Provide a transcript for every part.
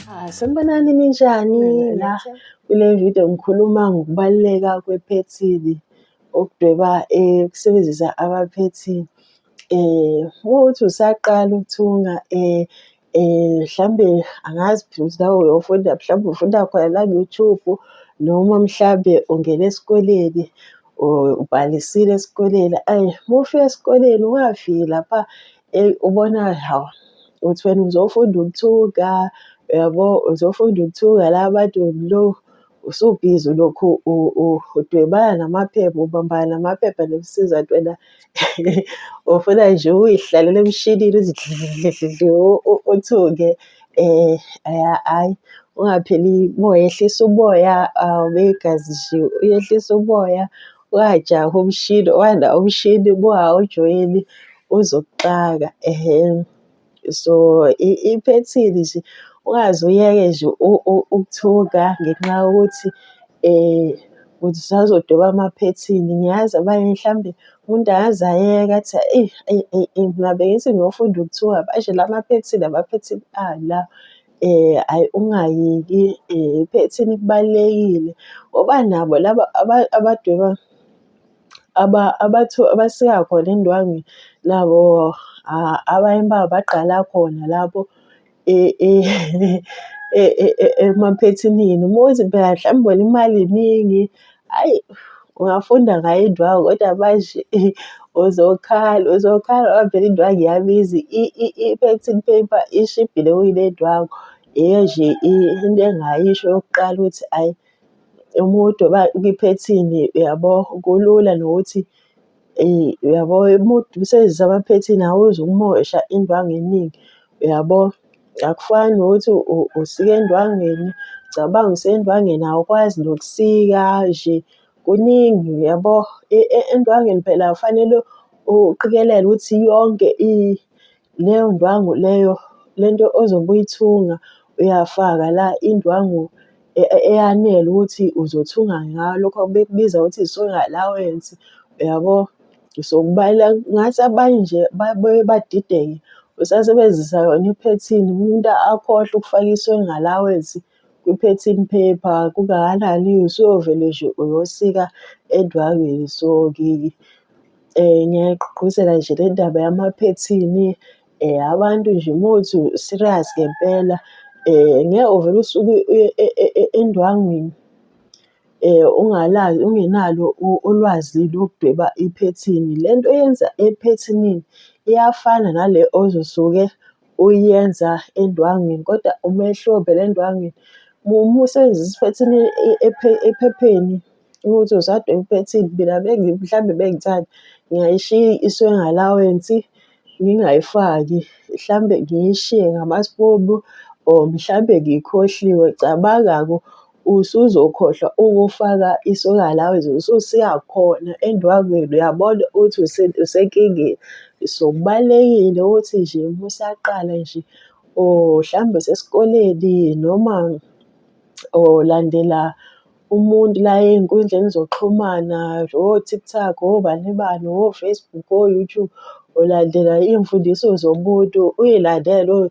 Ah, sanibonani ninjani la kule video ngikhuluma ngokubaluleka kwephethini ukudweba eh, ukusebenzisa abaphethini eh uma uthi usaqala ukuthunga eh um mhlawumbe angazi phela ukuthi nawe uyofunda mhlawumbe ufunda khona la ku-YouTube noma mhlawumbe ungene esikoleni ubhalisile esikoleni ayi uma ufika esikoleni ungafiki lapha um ubona hawu uthi wena uzofunda ukuthuka uyabo uzofunda ukuthuka la bantu lo usubhizi ulokhu udwebana namaphepha ubambana namaphepha nokusiza ntwena ufuna nje uyihlalele emshinini uzidlidlidlidli uthuke um hhayi ungapheli umoya ehlisa umoya awube um, igazi nje uyehlisa umoya ungajahi umshini wanda umshini uma ujoyini uzokuxaka ehhe so iphethini nje ungaze uyeke nje ukuthuka ngenxa yokuthi um ukuthi usazodoba amaphethini. Ngiyazi abanye mhlawumbe umuntu angaze ayeke athi eyi eyi eyi eyi mina bengithi ngiyofunda ukuthuka manje la maphethini amaphethini ala. Um ayi ungayeki iphethini kubalulekile ngoba nabo laba abadweba abathu abasika khona indwangu nabo abanye babo bagqala khona lapho emaphethinini. Uma uthi phela mhlawumbe wena imali iningi, ayi ungafunda ngayo indwangu kodwa manje uzokhala uzokhala ngoba phela indwangu iyabiza i-printing paper ishibhile kunendwangu. Yiyo nje into engayisho yokuqala ukuthi ayi. umuntu kwiphethini uyabo kulula nokuthi eh, uyabo umuntu usebenzisa amaphethini awuze umosha indwangu eningi uyabo akufani nokuthi usike endwangeni cabanga usendwangeni awukwazi nokusika nje kuningi uyabo e, e, endwangeni phela kufanele uqikelele ukuthi yonke Leyo ndwangu leyo le nto ozobe uyithunga uyafaka la indwangu e, e, eyanele ukuthi uzothunga ngayo lokho bekubiza ukuthi i-sewing allowance uyabo so kubalula ngathi abanye nje babuye badideke usasebenzisa yona iphethini umuntu akhohlwe ukufaka i-sewing allowance kwi-pattern paper kungakanani usuyovele nje uyosika endwangini. So, ngiyayigqugquzela nje le ndaba yamaphethini abantu nje uma uthi u-serious ngempela ngeke uvele usuke uye endwangwini ungenalo ulwazi lokudweba iphethini. Le nto oyenza ephethinini iyafana nale ozosuke. uyenza endwangwini kodwa umehlo ovela endwangwini uma usebenzisa iphethini ephepheni ukuthi usadweba iphethini mina mhlawumbe bengithanda ngiyayishiya isuke engalawensi ngingayifaki mhlawumbe ngiyishiye ngama or mhlawumbe ngiyikhohliwe cabanga-ke . usuzokhohlwa ukufaka i-solar allowance ususiya khona endwangwini uyabona ukuthi usenkingeni. So kubalulekile ukuthi nje uma usaqala nje or mhlawumbe usesikoleni noma or landela umuntu la ey'nkundleni zokuxhumana o-TikTok, obani bani, o-Facebook, o-YouTube, ulandela iy'mfundiso zomuntu, uy'landele .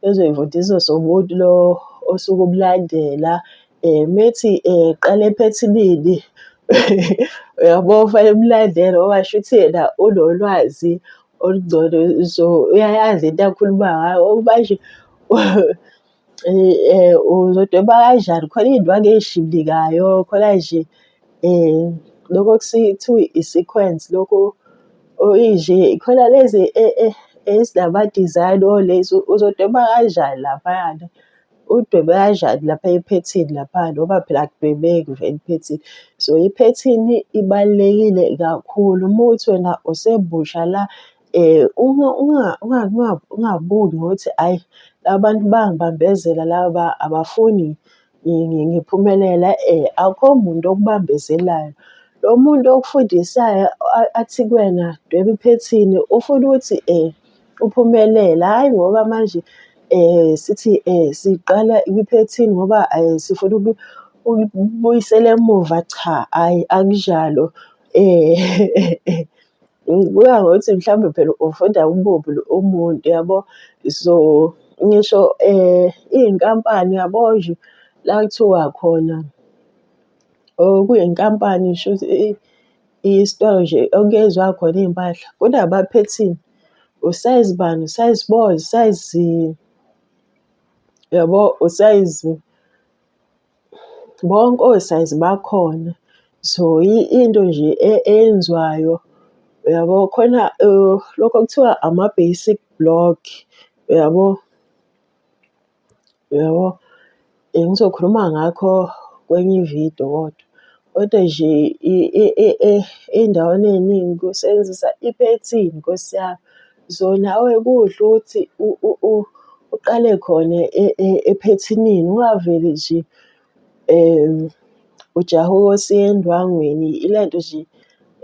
ezoyivundisa somuntu lo osuke umlandela um methi um qale ephethilini uyabo fanele umlandele ngoba shuthi yena unolwazi olungcono so uyayazi into akhuluma ngayo ukuba nje um uzodweba kanjani khona iy'ndwangu ey'shibikayo khona nje. Loko okuthiwa i-sequence loko oyinje khona lezi ezinama-design olezi uzodweba kanjani laphayana. Udwebe kanjani lapha ephethini lapha ngoba phela akudwebeki vele ephethini. So iphethini ibalulekile kakhulu uma kuwukuthi wena usemusha la ungabuki ngokuthi hhayi abantu bangibambezela laba abafuni ngiphumelela akho muntu okubambezelayo. Lo muntu okufundisayo athi kuwena dweba iphethini ufuna ukuthi uphumelele, hhayi ngoba manje sithi siqala kwiphethini ngoba sifuna ukubuyisela emuva cha, hhayi akunjalo . Ngibuka ngokuthi mhlawumbe phela ufunda ububi umuntu yabo. So ngisho um iy'nkampani yabo nje la kuthiwa khona or kuyinkampani shuthi isitolo nje okuyenzwa khona iy'mpahla kunabaphethini usayizi bani, usayizi bo, usayizi yabo, usayizi. Bonke osayizi bakhona. So into nje eyenziwayo uyabo khona lokhu okuthiwa ama-basic block uyabo. Uyabo? Ngizokhuluma ngakho kwenye ividiyo kodwa. Kodwa nje ey'ndaweni ey'ningi kusebenzisa iphethini Nkosi yami. So nawe kuhle ukuthi uqale khona e, e, ephethinini ungaveli nje um ujaha ukosiya endwangweni ile nto nje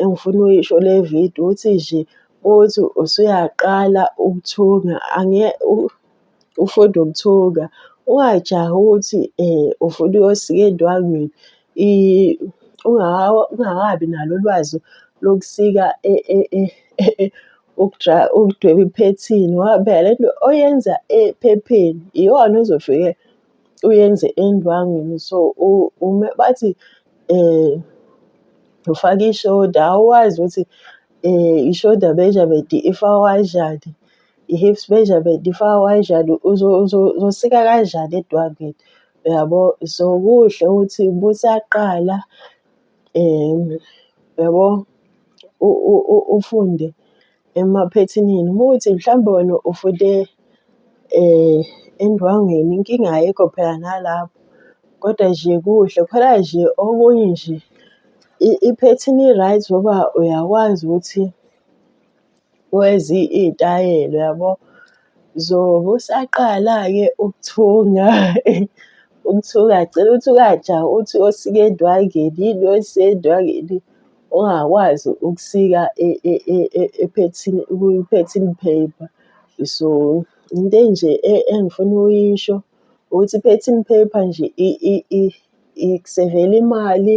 engifuna uyisho le video ukuthi nje uthi usuyaqala ukuthunga ufunda ukuthunga, ungajahi ukuthi ufuna uyosika endwangwini ungakabi nalo ulwazi lokusika ukudweba iphethini ngoba phela le nto oyenza ephepheni iyona ozofike uyenze endwangwini. So, uma bathi ufake ishoda awazi ukuthi ishoda measurement ifakwa kanjani. i-hips measurement ifaka kanjani uzosika kanjani edwangini uyabo so kuhle ukuthi busaqala um uyabo ufunde emaphethinini uma ukuthi mhlawumbe wena ufunde um endwangini inkinga ayikho phela nalapho kodwa nje kuhle khona nje okunye nje iphethini i-right ngoba uyakwazi ukuthi Kwezi iy'tayela yabo. Zobe usaqala-ke ukuthunga ukuthunga agcine ukuthi uyaja uthi uyosika endwangini, yini oyisika endwangini ungakwazi ukusika ephethini kwi-pattern paper. So, into enje engifuna ukuyisho ukuthi i-pattern paper nje ikusevela imali.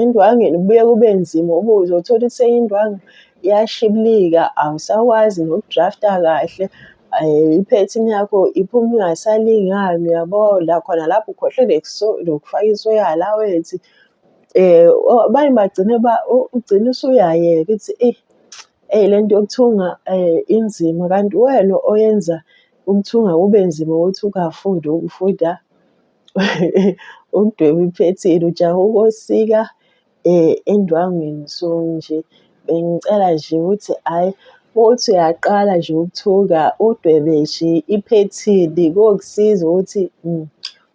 Endwangeni kubuye kube nzima uba uzothola ukuthi seyindwangu iyashiblika, awusakwazi noku-draft-a kahle. Iphethini yakho iphuma ingasalingani, uyabo? La khona lapho ukhohlwe nokufaka isoyi alawensi. Abanye bagcine ugcine usuyayeka ukuthi eyi, eyi le nto yokuthunga inzima kanti uwena oyenza ukuthunga kube nzima ukuthi ukungafundi ukufunda. ukudweba iphethini ujaha ukosika um endwangwini so nje bengicela nje ukuthi hhayi uthi uyaqala nje ukuthuka udwebe nje iphethini kokusiza ukuthi um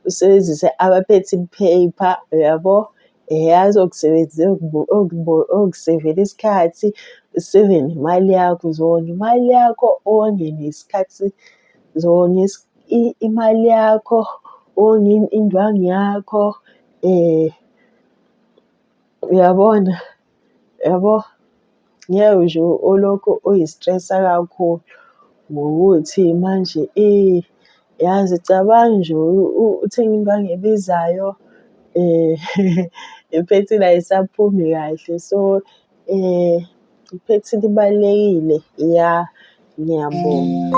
usebenzise ama-pattern paper uyabo eyazi okusebenzisa okusevela isikhathi useve nemali yakho, uzonga imali yakho onge nesikhathi zonge . imali yakho ongini indwangu yakho um uyabona yabo ngeke nje olokhu uyi-stress-a kakhulu ngokuthi manje yazi cabanga nje uthenge indwangu ebizayo um iphethini ayisaphumi kahle so. Eh, ngiphethe libalulekile ya ngiyabonga.